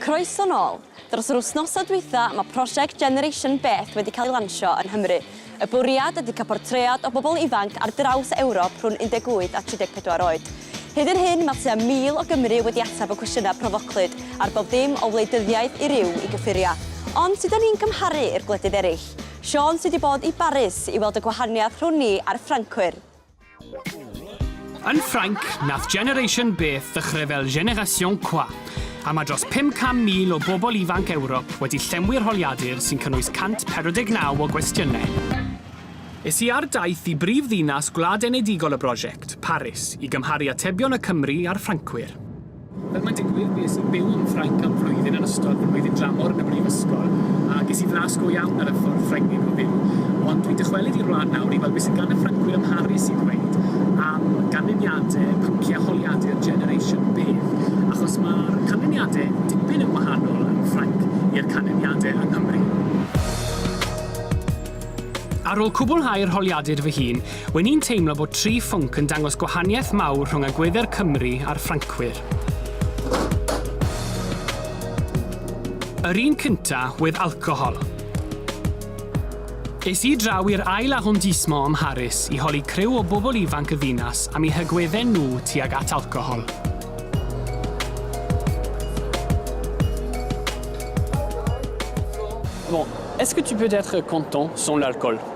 Croeso nôl! Dros yr wythnosau dwytha, mae prosiect Generation Beth wedi cael ei lansio yn Nghymru. Y bwriad ydy cael portread o bobl ifanc ar draws Ewrop rhwng 18 a 34 oed. Hyd yr hyn, mae tua 1,000 o Gymry wedi ateb y cwestiynau profoclyd ar bob dim o wleidyddiaeth i ryw i gyffuriau. Ond sut 'da ni'n cymharu i'r gwledydd eraill? Siôn sy 'di bod i Baris i weld y gwahaniaeth rhwng ni a'r Ffrancwyr. Yn Ffrainc, nath Generation Beth ddechrau fel Génération Quoi, a mae dros 500,000 o bobl ifanc Ewrop wedi llenwi'r holiadur sy'n cynnwys 149 o gwestiynau. Es i ar daith i brif ddinas gwlad enedigol y brosiect, Paris, i gymharu atebion y Cymry a'r Ffrancwyr. Fel mae'n digwydd, bues i'n byw yn Ffrainc am flwyddyn yn ystod fy mlwyddyn dramor yn y brifysgol, a ges i flas go iawn ar y ffordd Ffrengig o fyw. Ond dwi'n dychwelyd i'r wlad nawr i weld beth sydd gan y Ffrancwyr ym Mharis i ddweud am ganlyniadau pynci a holiadu'r Generation Bev, achos mae'r canlyniadau dipyn yn wahanol yn Ffrainc i'r canlyniadau yng Nghymru. Ar ôl cwblhau'r holiadur fy hun, Wen i'n teimlo bod Tri Phwnc yn dangos gwahaniaeth mawr rhwng agwedde'r Cymry a'r Ffrancwyr. Yr un cynta wedd alcohol. Es i draw i'r ail arrondissement ym Mharis i holi criw o bobl ifanc y ddinas am eu hagwedde nhw tuag at alcohol. Bon, est-ce que tu peux être content sans l'alcool?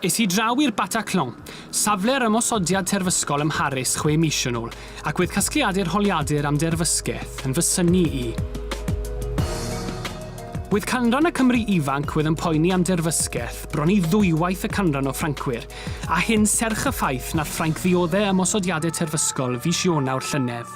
Es i draw i'r Bataclan, safle'r ymosodiad terfysgol ym Mharis chwe mis yn ôl, ac wedd casgliadur holiadur am derfysgeth yn fy synnu i. Wedd canran y Cymry ifanc wedd yn poeni am derfysgeth bron i ddwywaith y canran o Ffrancwyr, a hyn serch y ffaith nath Ffrainc ddiodde' ymosodiade terfysgol fis Ionawr llynedd.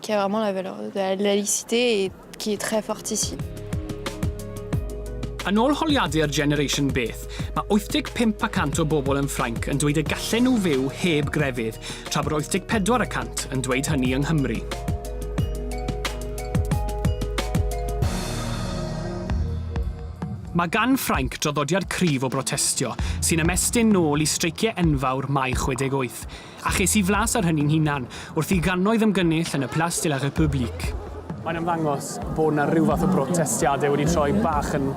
qui a vraiment la valeur de la laïcité et qui est très forte ici. Yn ôl holiadur Generation Beth, mae 85 y cant o bobl yn Ffrainc yn dweud y gallen nhw fyw heb grefydd, tra bod 84 y cant yn dweud hynny yng Nghymru. Mae gan Ffrainc draddodiad cryf o brotestio, sy'n ymestyn nôl i streiciau enfawr Mai 68. A ches i flas ar hynny'n hunan, wrth i gannoedd ymgynnull yn y Place de la République. Mae'n ymddangos bod 'na ryw fath o brotestiadau wedi troi bach yn,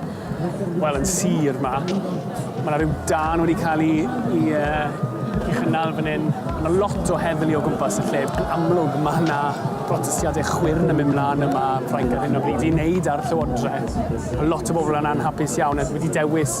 wel, yn sir 'ma. Mae 'na ryw dân wedi cael ei, ei, uh, ei chynnal fan hyn. Mae 'na lot o heddlu o gwmpas y lle. Yn amlwg, mae yna protestiadau chwyrn yn mynd mlaen yma yn Ffrainc ar hyn o bryd i wneud â'r llywodraeth. Mae lot o bobl yn anhapus iawn a wedi dewis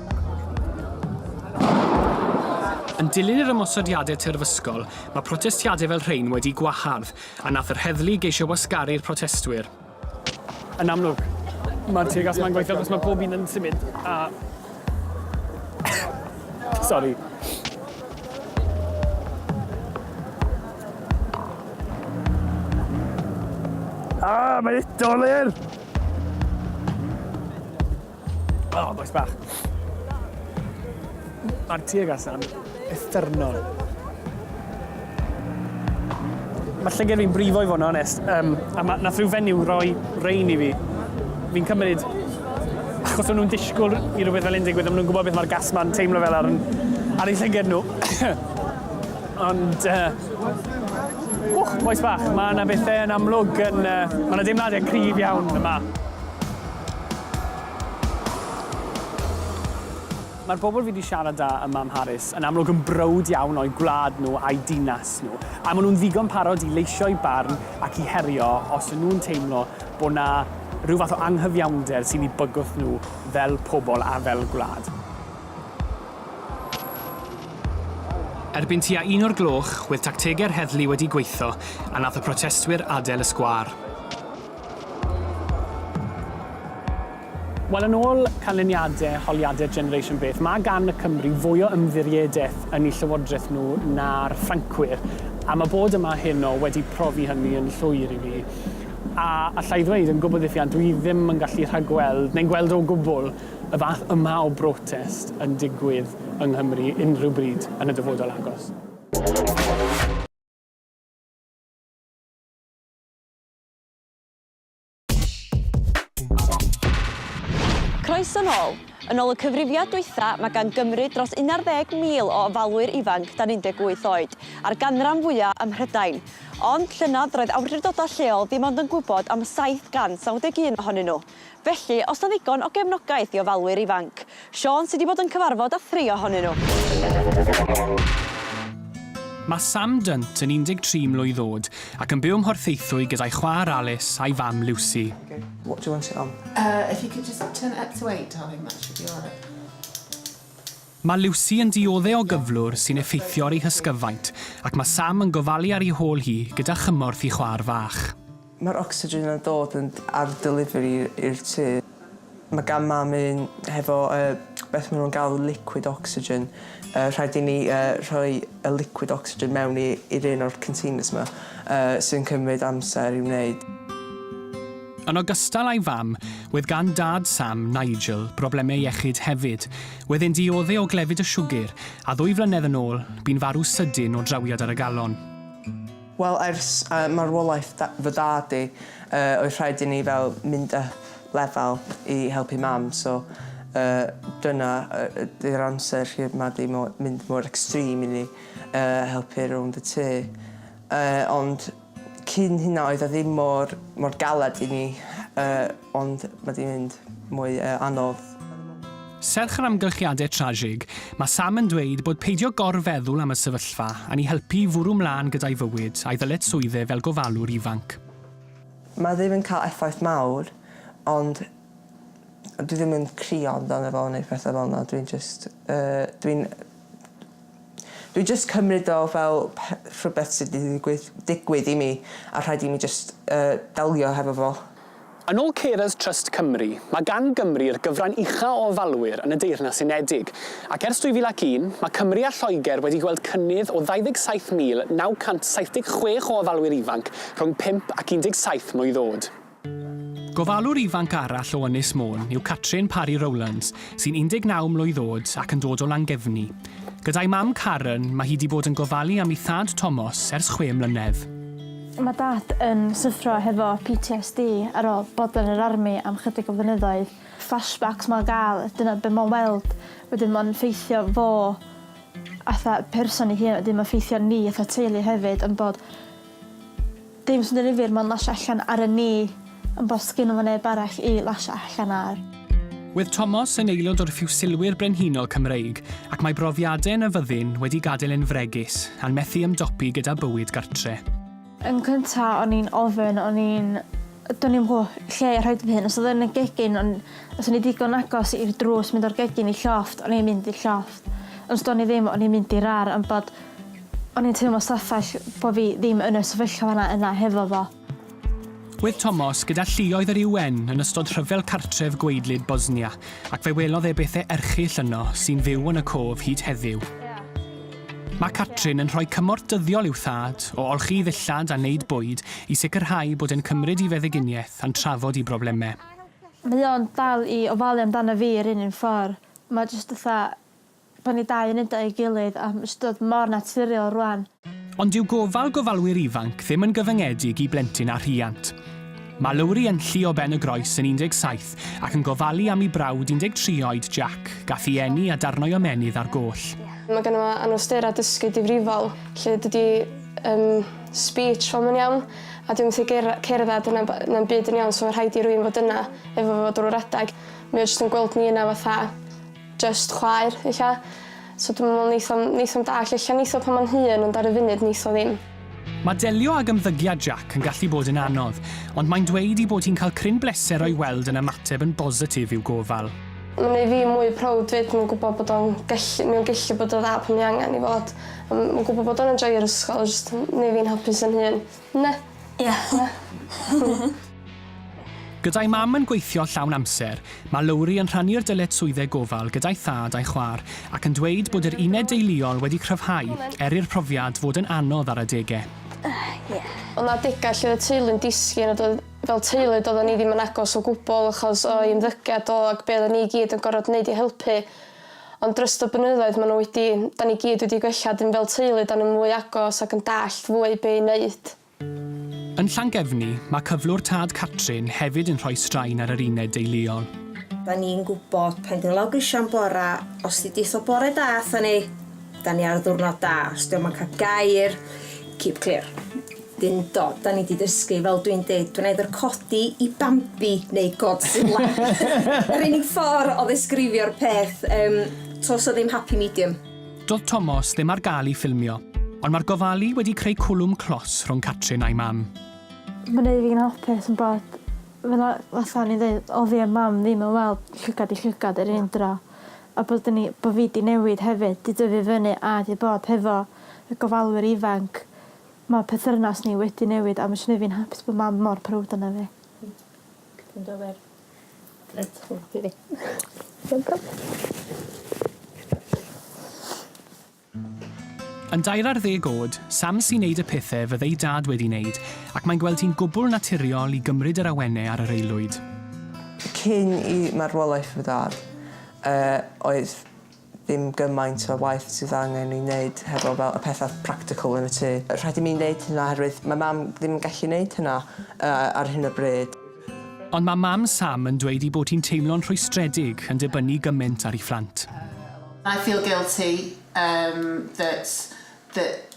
Yn dilyn yr ymosodiadau terfysgol, mae protestiadau fel rhein wedi gwahardd, a nath yr heddlu geisio wasgaru'r protestwyr. Yn amlwg, mae'r teyrgais ma'n gweithio achos mae pob un yn symud a... Sori. Ah, mae'n doler! O, oh, boes bach. Mae'r tuag allan effernol. Mae llygad fi'n brifo i fod yn onest. Um, a ma, nath rhyw fenyw roi rein i fi. Fi'n cymryd achos nhw'n disgwyl i rhywbeth fel un digwydd, maen nhw'n gwybod beth mae'r gas ma'n teimlo fel ar, ar ei llygad nhw. Ond, uh, wch, boes bach, mae yna bethau yn amlwg yn, uh, mae yna deimladau cryf iawn yma. Mae'r bobl fi 'di siarad 'da ym Mam Harris yn amlwg yn browd iawn o'u gwlad nhw a'u dinas nhw, a maen nhw'n ddigon parod i leisio'u barn ac i herio os y'n nhw'n teimlo bod 'na ryw fath o anghyfiawnder sy'n eu bygwth nhw fel pobl a fel gwlad. Erbyn tua un o'r gloch, wedd tactegau'r heddlu wedi gweitho a nath y protestwyr adael y sgwâr. Wel, yn ôl canlyniadau holiadau'r Generation Beth, mae gan y Cymry fwy o ymddiriedaeth yn eu llywodraeth nhw na'r Ffrancwyr, a mae bod yma heno wedi profi hynny yn llwyr i mi. A alla i ddweud yn gwbl ddiffuant, dwi ddim yn gallu rhagweld, neu'n gweld o gwbl, y fath yma o brotest yn digwydd yng Nghymru unrhyw bryd yn y dyfodol agos. Croeso nôl! Yn ôl y cyfrifiad dwytha, mae gan Gymru dros un ar ddeg mil o ofalwyr ifanc dan 18 oed, a'r ganran fwya ym Mhrydain. Ond, llynedd, roedd awdurdodau lleol ddim ond yn gwybod am 791 ohonyn nhw. Felly, os na ddigon o gefnogaeth i ofalwyr ifanc? Siôn sy 'di bod yn cyfarfod â thri ohonyn nhw. Mae Sam Dunt yn 13 mlwydd oed ac yn byw ym Mhorthaethwy gyda'i chwaer Alice a'i fam Lucy. Okay, what do you want it on? Uh, if you could just turn it up to eight, darling, that should be alright. Mae Lucy yn diodde' o gyflwr sy'n effeithio ar ei hysgyfaint ac mae Sam yn gofalu ar ei hôl hi gyda chymorth i chwaer fach. Mae'r ocsigen yn dod yn ar delivery i'r tŷ. Mae gan mam un hefo yy beth maen nhw'n galw liquid oxygen. Yy rhaid i ni yy rhoi y liquid oxygen mewn i i'r un o'r containers ma yy sy'n cymryd amser i wneud. Yn ogystal â'i fam, wedd gan dad Sam, Nigel, broblemau iechyd hefyd. Wedd e'n diodde' o glefyd y siwgr, a ddwy flynedd yn ôl, bu'n farw sydyn o drawiad ar y galon. Wel ers marwolaeth fy dad i oedd rhaid i ni fel mynd up lefel i helpu mam so dyna ydy'r amser lle ma di mynd mor extreme i ni helpu rownd y tŷ ond cyn hynna oedd o ddim mor galed i ni Ond mae 'di mynd mwy anodd. Serch yr amgylchiadau trasig, mae Sam yn dweud bod peidio gor-feddwl am y sefyllfa yn ei helpu i fwrw 'mlaen gyda'i fywyd a'i ddyled swydd e fel gofalwr ifanc. Mae ddim yn cael effaith mawr, ond dwi ddim yn crio amdano fo neu pethau fel 'na, dwi'n jyst yy dwi'n dwi jyst cymryd o fel rhywbeth sydd wedi digwydd digwydd i mi a rhaid i mi jyst yy delio hefo fo. Yn ôl Carers Trust Cymru, mae gan Gymru'r gyfran ucha' o ofalwyr yn y Deyrnas Unedig, ac ers 2001, mae Cymru a Lloegr wedi gweld cynnydd o 27,976 o ofalwyr ifanc rhwng 5 ac 17 mlwydd oed. Gofalwr ifanc arall o Ynys Môn yw Catrin Parry Rowlands, sy'n 19 mlwydd oed ac yn dod o Langefni. Gyda'i mam Karen, mae hi 'di bod yn gofalu am ei thad Tomos ers chwe mlynedd. Mae Dad yn syffro hefo PTSD ar ôl bod yn yr army am chydig o flynyddoedd. Flashbacks mae'n gael, dyna be mae'n weld, wedyn mae'n ffeithio fo atha person ei hun wedyn mae'n ffeithio ni atha teulu hefyd ond bod dim sy'n ddifyr mae'n lasio allan ar y ni. Yn bosgyn efo neb arall i lasio allan ar. Wedd Tomos yn aelod o'r Ffiwsilwyr Brenhinol Cymreig ac mae brofiade yn y fyddin wedi gadael e'n fregus a'n methu ymdopi gyda bywyd gartre. Yn cynta o'n i'n ofyn o'n i'n do'n i'm gwo lle i rhoid fy hun os odd yn y gegin on os o'n i digon agos i'r drws mynd o'r gegin i llofft o'n i'n mynd i'r llofft ond os do'n i ddim o'n i'n mynd i'r ar am bod o'n i'n teimlo stafell bo fi ddim yn y sefyllfa yna yna hefo fo. Wedd Tomos gyda lluoedd yr UN yn ystod rhyfel cartref gwaedlyd Bosnia, ac fe welodd e bethe erchyll yno sy'n fyw yn y cof hyd heddiw. Mae Catrin yn rhoi cymorth dyddiol i'w thad, o olchi ddillad a neud bwyd, i sicrhau bod e'n cymryd i feddyginiaeth a'n trafod i broblemau. Mae o'n dal i ofalu amdana fi yr un un ffordd. Mae jyst fatha Bod ni dau yn wneud o ei gilydd am ystod mor naturiol rwan. Ond dyw gofal gofalwyr ifanc ddim yn gyfyngedig i blentyn a rhiant. Mae Lowri yn llu o ben y groes yn 17 ac yn gofalu am i brawd 13 oed Jack gath i eni a darnau ymenydd ar goll. Mae ganddo fo anawsterau dysgu difrifol lle dydy yym speech fo'm yn iawn a dyw e'm methu ger- cerdded na b- na'm byd yn iawn so ma' rhaid i rywun fod yna efo fo drwy'r adeg. Mae o jyst yn gweld ni yna fatha jyst chwaer ella so dwi'm yn me'wl neith o'm neith o'm dallt ella neith o pan ma'n hŷn ond ar y funud neith o ddim. Mae delio ag ymddygiad Jack yn gallu bod yn anodd, ond mae'n dweud ei bod hi'n cael cryn bleser o'i weld yn ymateb yn bositif i'w gofal. Mae'n gwneud fi mwy proud 'fyd, mae'n gwybod bod o'n gallu... mae o'n gallu bod yn dda pan mae angen i fod. Mae'n gwybod bod o'n enjoio'r ysgol, jyst yn gwneud fi'n hapus yn hun. Na. Ia. Na. Na. Gyda'i mam yn gweithio llawn amser, mae Lowri yn rhannu'r dyletswyddau gofal gyda'i thad a'i chwaer ac yn dweud bod yr uned deuluol wedi cryfhau er i'r profiad fod yn anodd ar adegau. Ia. Oedd 'na adegau lle oedd y teulu'n disgyn a doedd, fel teulu, doeddan ni ddim yn agos o gwbl achos o'i ymddygiad o ac be' oeddan ni i gyd yn gorfod neud i helpu. Ond dros y blynyddoedd maen nhw wedi, dan ni gyd wedi gwella, dan ni fel teulu, dan ni'n fwy agos ac yn dallt fwy be' i wneud. Yn Llangefni, mae cyflwr Tad Catrin hefyd yn rhoi straen ar yr uned deuluol. Dan ni'n gwybod pan ti'n lawr grisiau yn bore, os ti'n deutho bore da atho ni, dan ni ar ddiwrnod da, os dio'm yn cael gair, keep clear. Dundo, da ni di dysgu, fel dwi'n dweud, dwi'n eithr codi i Bambi neu Godzilla. Yr unig ffordd o ddesgrifio'r peth, um, tos o ddim happy medium. Doedd Tomos ddim ar gael i ffilmio, ond mae'r gofalu wedi creu cwlwm clos rhwng Catrin a'i mam. Mae'n ei fi'n hapus yn bod fel fatha ni'n dweud, oedd fi a mam ddim yn weld llygad i llygad yr un dro, a bod ni, bod fi di newid hefyd, di dyfu fyny a di bod hefo y gofalwyr ifanc Mae perthynas ni wedi newid a fyswn i fi'n hapus bod mam mor prowd ona fi. Ti'n gywir. Reit hwyl ti fi. Dim problem. Yn dair ar ddeg oed, Sam sy'n neud y pethe fydd ei dad wedi neud ac mae'n gweld hi'n gwbwl naturiol i gymryd yr awene ar yr aelwyd. Cyn i marwolaeth fy dad, yy, oedd ddim gymaint o waith sydd angen ei wneud hefo fel y pethau practical yn y tŷ. Rhaid i mi wneud hynna oherwydd mae Mam ddim yn gallu wneud hynna ar hyn o bryd. Ond mae Mam Sam yn dweud ei bod hi'n teimlo'n rhwystredig yn dibynnu gymaint ar ei phlant. I feel guilty that that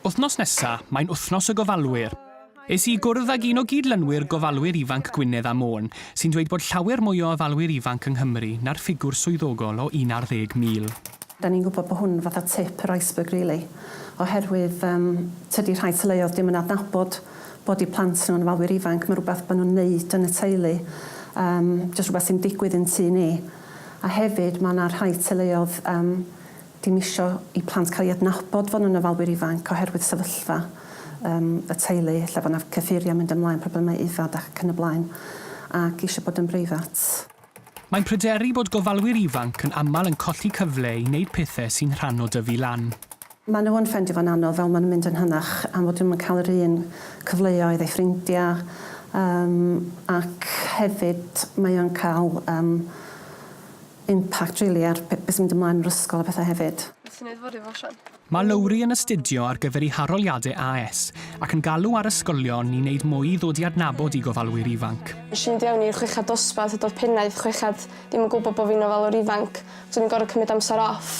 Wythnos nesa, mae'n Wythnos y Gofalwyr. Es i i gwrdd ag un o gyd-lynwyr gofalwyr ifanc Gwynedd a Môn, sy'n dweud bod llawer mwy o ofalwyr ifanc yng Nghymru na'r ffigwr swyddogol o un ar ddeg mil. Dan ni'n gwybod bod hwn fatha tip yr iceberg rili, oherwydd yym tydi rhai teuluoedd dim yn adnabod bod eu plant nhw'n ofalwyr ifanc, mae'n rhywbeth maen nhw'n neud yn y teulu, yym jyst rhywbeth sy'n digwydd i'n tŷ ni. A hefyd mae 'na rhai teuluoedd yym Dim isio i plant cael ei adnabod fod nhw'n ofalwyr ifanc oherwydd sefyllfa yym y teulu lle fod 'na cyffuriau mynd ymlaen, problemau yfed ac yn y blaen, ac isio bod yn breifat. Mae'n pryderu bod gofalwyr ifanc yn aml yn colli cyfle i wneud pethau sy'n rhan o dyfu lan. Maen nhw yn ffeindio fo'n anodd fel maen nhw'n mynd yn hynach am fod nhw'm yn cael yr un cyfleoedd â'u ffrindiau yym ac hefyd mae o'n cael yym impact rili ar be- be' sy'n mynd ymlaen yn yr ysgol a pethe hefyd. Nes i neud fo ryw osian. Mae Lowri yn astudio ar gyfer ei haroliadau AS ac yn galw ar ysgolion i wneud mwy i ddod i adnabod i gofalwyr ifanc. Nes i fynd i fewn i'r chweched dosbarth a do'dd pennaeth chweched ddim yn gwbo bo' fi'n ofalwr ifanc so o'n i'n gor'o' cymyd amser off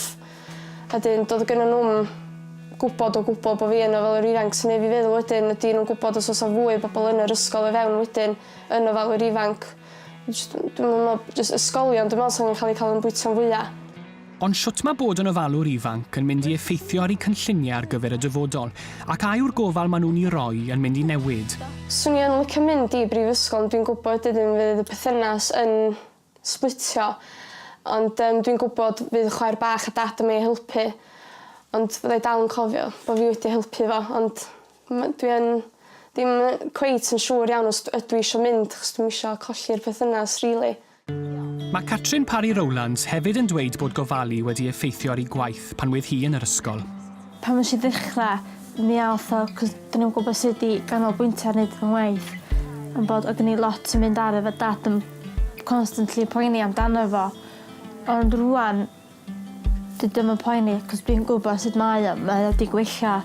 a 'dyn do'dd gynno nw'm gwbod o gwbwl bo' fi yn ofalwr ifanc sy'n neu' fi feddwl wedyn ydi nw'n gwbod os o's 'a fwy o bobol yn yr ysgol o fewn wedyn yn ofalwyr ifanc? Jyst yn... Dwi'm yn me'wl... Jyst ysgolion dwi me'wl sy'n ca'l 'u ca'l yn bwyta'n fwya'. Ond shwt mae bod yn ofalwr ifanc yn mynd i effeithio ar eu cynlluniau ar gyfer y dyfodol, ac a yw'r gofal maen nhw'n ei roi yn mynd i newid? Swn i yn licio mynd i brifysgol ond dwi'n gwybod wedyn fydd y perthynas yn sblitio ond yym dwi'n gwybod fydd chwaer bach a dad yn myn' i helpu ond fyddai dal yn cofio bo' fi wedi helpu fo ond M- dwi yn ddim yy cweit yn siŵr iawn os d- ydw i isio mynd achos dwi'm isio colli'r perthynas rili. Mae Catrin Parry Rowlands hefyd yn dweud bod gofalu wedi effeithio ar ei gwaith pan oedd hi yn yr ysgol. Pan nes i ddechra mi ath o 'c'os do'n i'm yn gwbo sud i ganolbwyntio ar neud fy ngwaith on' bod o' gen i lot yn mynd ar efo dad yn constantly poeni amdano fo ond rŵan Dydw i'm yn poeni achos dwi'n gwybod sut mae o, mae o 'di gwella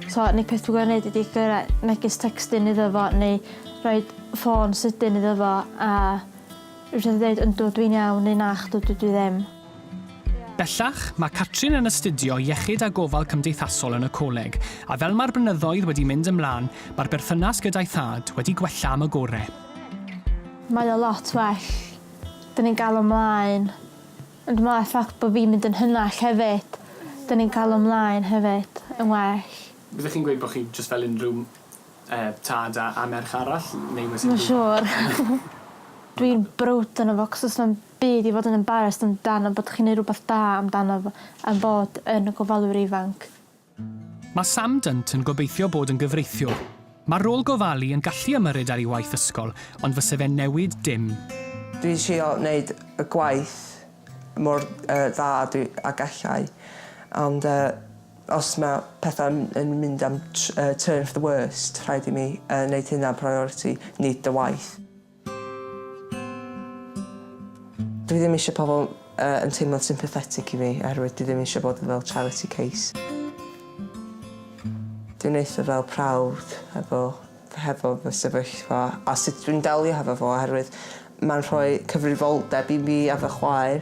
so unig peth dwi gor'o' neud ydi gyra- megis tecstyn iddo fo neu roid ffôn sydyn iddo fo a jys yn ddeud yndw dwi'n iawn neu nachdw dydw i ddim. Bellach, mae Catrin yn astudio Iechyd a Gofal Cymdeithasol yn y coleg, a fel mae'r blynyddoedd wedi mynd ymlaen, mae'r berthynas gyda'i thad wedi gwella am y gore'. Mae o lot well. 'Dyn ni'n galw mlaen. Ond mae'r ffact bod fi'n mynd yn hynach hefyd, dan ni'n cael ymlaen hefyd yn well. Byddech chi'n gweud bod chi jyst fel unrhyw er, tad a a merch arall? Neu oes unrhyw... Mae'n siŵr. Dwi'n browd yno fo 'c'os does na'm byd i fod yn embarrassed amdano bod chi'n neud rwbeth da amdano fo am bod yn y gofalwyr ifanc. Mae Sam Dunt yn gobeithio bod yn gyfreithiwr. Mae'r rôl gofalu yn gallu ymyrryd ar ei waith ysgol, ond fyse fe'n newid dim. Dwi'n trio neud y gwaith mor dda a gallai, ond os mae pethau yn mynd am turn for the worst, rhaid i mi neud hynna'n priority, nid y waith. Dwi ddim eisiau pobl yy yn teimlo'n sympathetic i fi oherwydd dwi ddim eisiau bod fel charity case. Dwi'n eitha fel proud hefo hefo fy sefyllfa a sut dwi'n delio hefo fo oherwydd mae'n rhoi cyfrifoldeb i mi a fy chwaer.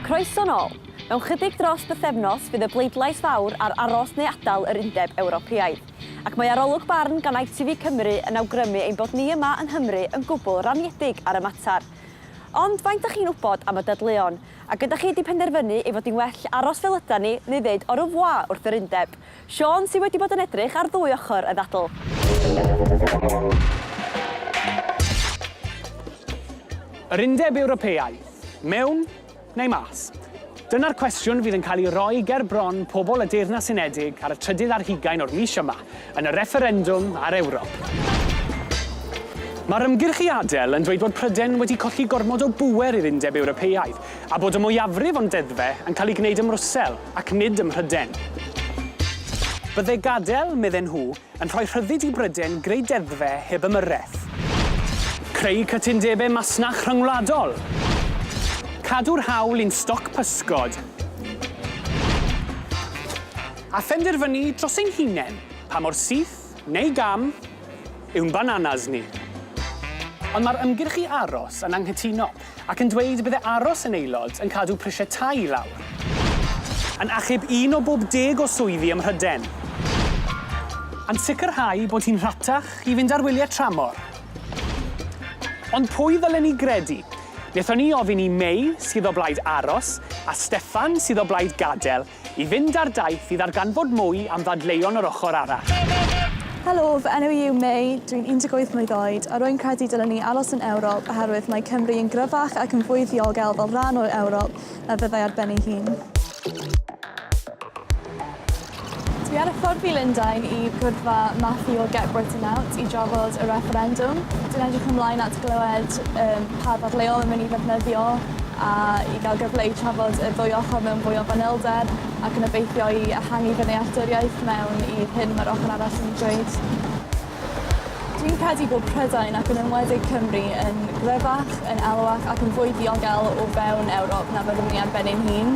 Croeso nôl! Mewn chydig dros bythefnos fydd y bleidlais fawr ar aros neu adael yr Undeb Ewropeaidd. Ac mae arolwg barn gan ITV Cymru yn awgrymu ein bod ni yma yng Nghymru yn gwbl raniedig ar y mater. Ond faint da chi'n wybod am y dadleuon? Ac ydych chi wedi penderfynu ei fod hi'n well aros fel ydan ni neu ddeud au revoir wrth yr Undeb? Siôn sydd wedi bod yn edrych ar ddwy ochr y ddadl. Yr Undeb Ewropeaidd, mewn neu mas? Dyna'r cwestiwn fydd yn cael ei roi ger bron pobl y Deyrnas Unedig ar y trydydd ar hugain o'r mis yma, yn y refferendwm ar Ewrop. Mae'r ymgyrch i adael yn dweud bod Prydain wedi colli gormod o bŵer i'r Undeb Ewropeaidd, a bod y mwyafrif o'n deddfe yn cael eu gwneud ym Mrwsel ac nid ym Mhryden. Byddai gadael, medden nhw, yn rhoi rhyddid i Bryden greu deddfe heb ymyrraeth. Creu cytundebau masnach rhyngwladol. Cadw'r hawl i'n stoc pysgod. A phenderfynu dros ein hunain pa mor syth, neu gam, yw'n bananas ni. Ond mae'r ymgyrch i aros yn anghytuno. ac yn dweud y bydde aros yn aelod yn cadw prisiau tai i lawr. Yn achub un o bob deg o swyddi ym Mhryden. Yn sicrhau bod hi'n rhatach i fynd ar wyliau tramor. Ond pwy ddylen ni gredu? Wnaethon ni ofyn i May, sydd o blaid aros, a Steffan, sydd o blaid gadael, i fynd ar daith i ddarganfod mwy am ddadleuon yr ochr arall. Helo, fy enw i yw Mei, dw i'n 18 mlwydd oed, a rwy'n credu dylwn ni aros yn Ewrop oherwydd mae Cymru yn gryfach ac yn fwy ddiogel fel rhan o Ewrop na fyddai ar ben ei hun. Dw i ar y ffordd i Lundain i gwddfa Matthew o Get Britain Out i drafod y refferendwm. Dwi'n edrych ymlaen at glywed pa ddadleuon mae'n mynd i ddefnyddio. a i gael gyfle i trafod y ddwy ochr mewn fwy o fanylder ac yn obeithio i ehangu fy nealltwriaeth mewn i'r hyn mae'r ochr arall yn ei ddweud. Dwi'n credu bod Prydain, ac yn enwedig Cymru, yn gryfach, yn elwach ac yn fwy diogel o fewn Ewrop na fyddwn i ar ben ein hun.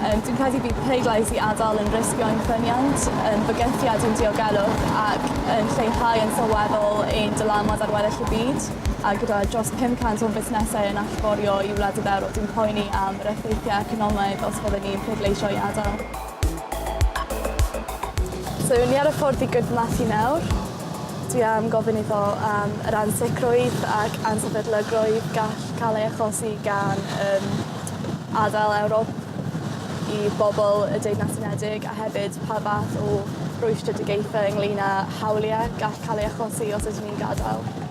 Um, dwi'n credu bydd pleidlais i adael yn risgio ein ffyniant, yn bygythiad i'n diogelwch ac yn lleihau yn sylweddol ein dylanwad ar weddill y byd. a gyda dros 500 o fusnesau yn allforio i wledydd Ewrop, dwi'n poeni am yr effeithiau economaidd os byddwn ni'n pleidleisio i adael. So, ni ar y ffordd i gydmasu nawr. Dwi am gofyn iddo am yr ansicrwydd ac ansefydlygrwydd gall cael ei achosi gan um, adael Ewrop i bobl y Deyrnas Unedig a hefyd pa fath o rwystredigaethau ynglyn â hawliau gall cael ei achosi os ydyn ni'n gadael.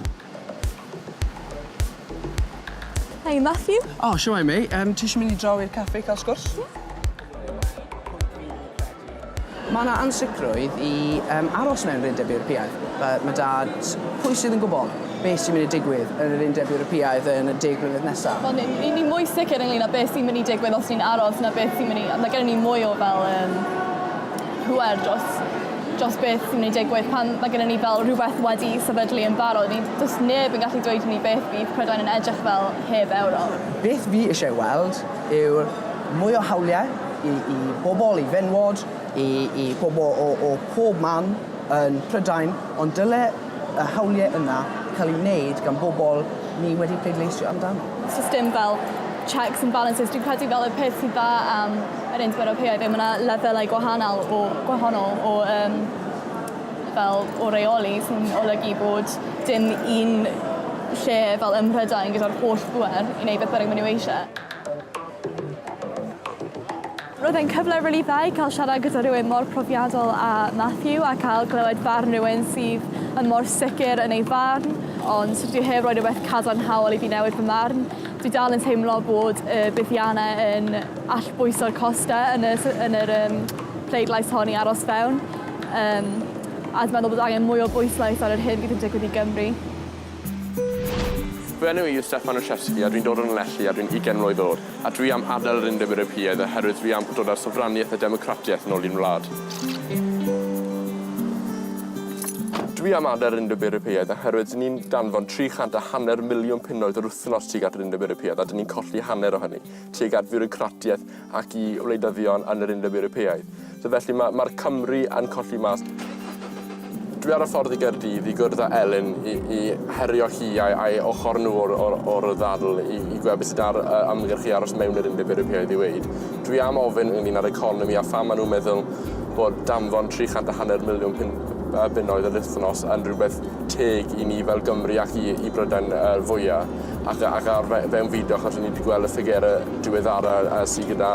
Hi Matthew. O shwmae mei. Yym ti isio mynd i draw i'r caffi i ca'l sgwrs? Ie. Ma' 'na ansicrwydd i yym aros mewn Undeb Ewropeaidd. Yy ma' dad, pwy sydd yn gwbo be' sy'n myn' i digwydd yn yr Undeb Ewropeaidd yn y deg mlynedd nesa? Wel ni ni ni mwy sicr ynglŷn â beth sy'n myn' i digwydd os ni'n aros na beth sy'n myn' i yy ma' gennon ni mwy o fel yym pŵer dros dros beth sy'n myn' i digwydd pan ma' gynnon ni fel rhwbeth wedi sefydlu yn barod i do's neb yn gallu dweud i ni beth fydd Prydain yn edrych fel heb Ewrop. Beth fi isie weld yw mwy o hawliau i i bobol, i fenywod, i i bobol o o pob man yn Prydain ond dyle y hawliau yna cael ei wneud gan bobl ni wedi pleidleisio amdano. Does dim fel checks and balances. Dwi'n credu fel y peth sy'n dda am yr Undeb Ewropeaidd yw mae yna lefelau gwahanol o, gwahanol o um, fel o reoli sy'n olygu bod dim un lle fel ym Mhrydain gyda'r holl bwer i wneud beth bynnag maen nhw eisiau. Roedd e'n cyfle rili dda i cael siarad gyda rhywun mor profiadol â Matthew a cael clywed barn rhywun sydd yn mor sicr yn ei farn, ond dwi heb roi rhywbeth cadarnhaol i fi newid fy marn. Dwi dal yn teimlo bod y buddiannau yn allbwyso'r costau yn y yn yr um, pleidlais hon i aros fewn, um, a dwi'n meddwl bod angen mwy o bwyslais ar yr hyn fydd yn digwydd i Gymru. Fy enw i yw Stefan Olszewski a dwi'n dod o Lanelli a dwi'n 20 mlwydd oed. A dwi am adael yr Undeb Ewropeaidd oherwydd dwi am dod â'r sofraniaeth a democratiaeth yn ôl i'n wlad. Dwi am adael yr Undeb Ewropeaidd oherwydd dyn ni'n danfon tri chant a hanner miliwn punnoedd yr wythnos tuag at yr Undeb Ewropeaidd a dyn ni'n colli hanner o hynny tuag at fiwrocratiaeth ac i wleidyddion yn yr Undeb Ewropeaidd. So felly ma' ma'r Cymry yn colli mas. Dwi ar y ffordd i Gaerdydd i gwrdd â Elin i i herio hi a'i a'i ochor nhw o'r o'r o'r ddadl i i gweld be' sy 'da'r yy ymgyrch i aros mewn i'r Undeb Ewropeaidd i weud. Dwi am ofyn ynglŷn â'r economi a pham ma' nhw'n meddwl bod danfon tri chant a hanner miliwn pun- yy bunnoedd yr wythnos yn rhywbeth teg i ni fel Gymry ac i i Brydain yy fwya ac a- ac ar fe- fewnfudo achos o'n ni 'di gweld y ffigure diweddara yy sy gyda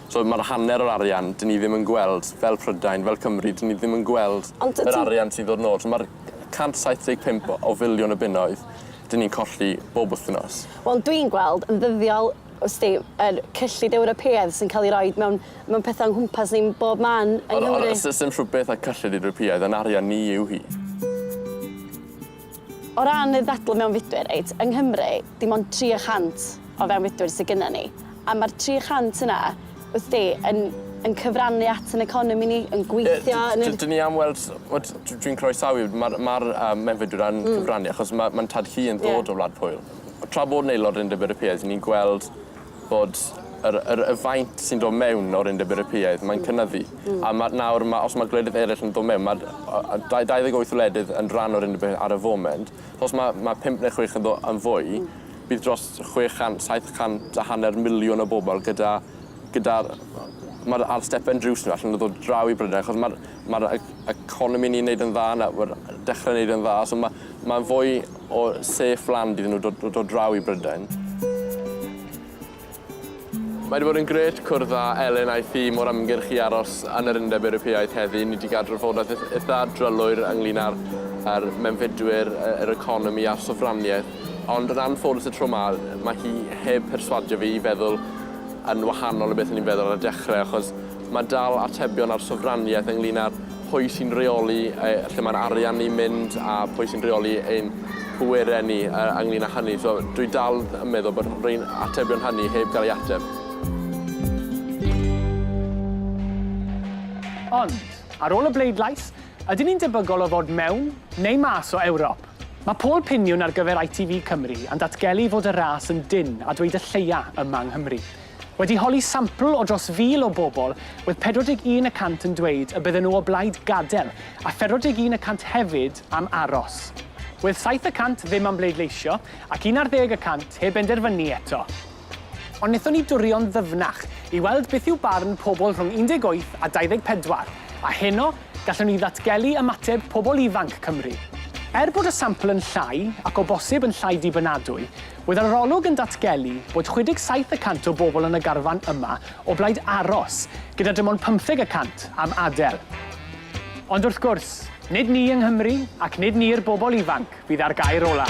So ma'r hanner o'r arian 'dyn ni ddim yn gweld fel Prydain, fel Cymru, 'dyn ni ddim yn gweld... Ond dydi... ...yr arian sy'n dod nôl. So ma'r c- cant saith deg pump o o filiwn o bunnoedd 'dyn ni'n colli bob wthnos. Wel dwi'n gweld yn ddyddiol wsti yr cyllid Ewropeaidd sy'n ca'l 'i roid mewn mewn pethe o'n nghwmpas ni'n bob man yng Nghymru. Ond ond o's o's dim rhwbeth â cyllid Ewropeaidd, 'yn arian ni yw hi. O ran y ddadl mewnfudwyr, reit, yng Nghymru, dim ond 300 o fewnfudwyr sydd gynnon ni, a ma'r 300 yna, wsti, yn yn cyfrannu at yn economi ni, yn gweithio yn yr... Ie, 'dyn ni am weld, t'mod, dw dwi'n croesawu, ma'r ma'r yym mewnfudwyr yn cyfrannu achos ma' ma'n tad-cu yn dod o Wlad Pwyl. Tra bod yn aelod yn Undeb Ewropeaidd, 'yn ni'n gweld bod yr yr y faint sy'n do' mewn o'r Undeb Ewropeaidd mae'n cynyddu. Hmm. A ma' nawr ma' os ma' gwledydd eryll yn do' mewn ma'r o- yy dau dau ddeg wyth wledydd yn rhan o'r Undeb Ewropeaidd ar y foment. So os ma' ma' pump ne' chwech yn do' yn fwy... Hmm. ...bydd dros chwe chant saith chant a hanner miliwn o bobol gyda gyda'r yy ma'r ar stepen drws ni allan o ddod draw i Brydain achos ma'r Mae'r e- economi ni'n neud yn dda nawr yy dechre neud yn dda so ma' ma' fwy o safe land iddyn nw dod dod dod draw i Brydain. Mae 'di bod yn grêt cwrdd â Elin a'i thîm o'r ymgyrch i aros yn yr Undeb Ewropeaidd heddi. Ni 'di ga'l drafodaeth ith- itha drylwyr ynglŷn â'r â'r mewnfudwyr, y yr economi a'r sofraniaeth ond yn anffodus y tro 'ma ma' hi heb perswadio fi i feddwl yn wahanol o beth o'n i'n feddwl ar y dechre achos Mae dal atebion ar sofraniaeth ynglŷn â'r pwy sy'n rheoli yy lle mae'r arian ni'n mynd a pwy sy'n rheoli ein pwerau ni yy ynglŷn â hynny. So dwi dal yn meddwl bod rhein atebion hynny heb gael ei ateb. Ond, ar ôl y bleidlais, ydyn ni'n debygol o fod mewn neu mas o Ewrop? Mae pôl piniwn ar gyfer ITV Cymru yn datgelu fod y ras yn dynn a dweud y lleia yma yng Nghymru. Wedi holi sampl o dros fil o bobl, oedd 41 y cant yn dweud y bydden nhw o blaid gadael, a 41 y cant hefyd am aros. Oedd saith y cant ddim am bleidleisio, ac un ar ddeg y cant heb benderfynu eto. Ond wnaethon ni durio'n ddyfnach i weld beth yw barn pobl rhwng 18 a 24, a heno, gallwn ni ddatgelu ymateb pobl ifanc Cymru. Er bod y sampl yn llai, ac o bosib yn llai dibynadwy, Oedd yr arolwg yn datgelu bod 67 y cant o bobl yn y garfan yma o blaid aros, gyda dim ond pymtheg y cant am adael. Ond wrth gwrs, nid ni yng Nghymru ac nid ni'r bobl ifanc fydd â'r gair ola'.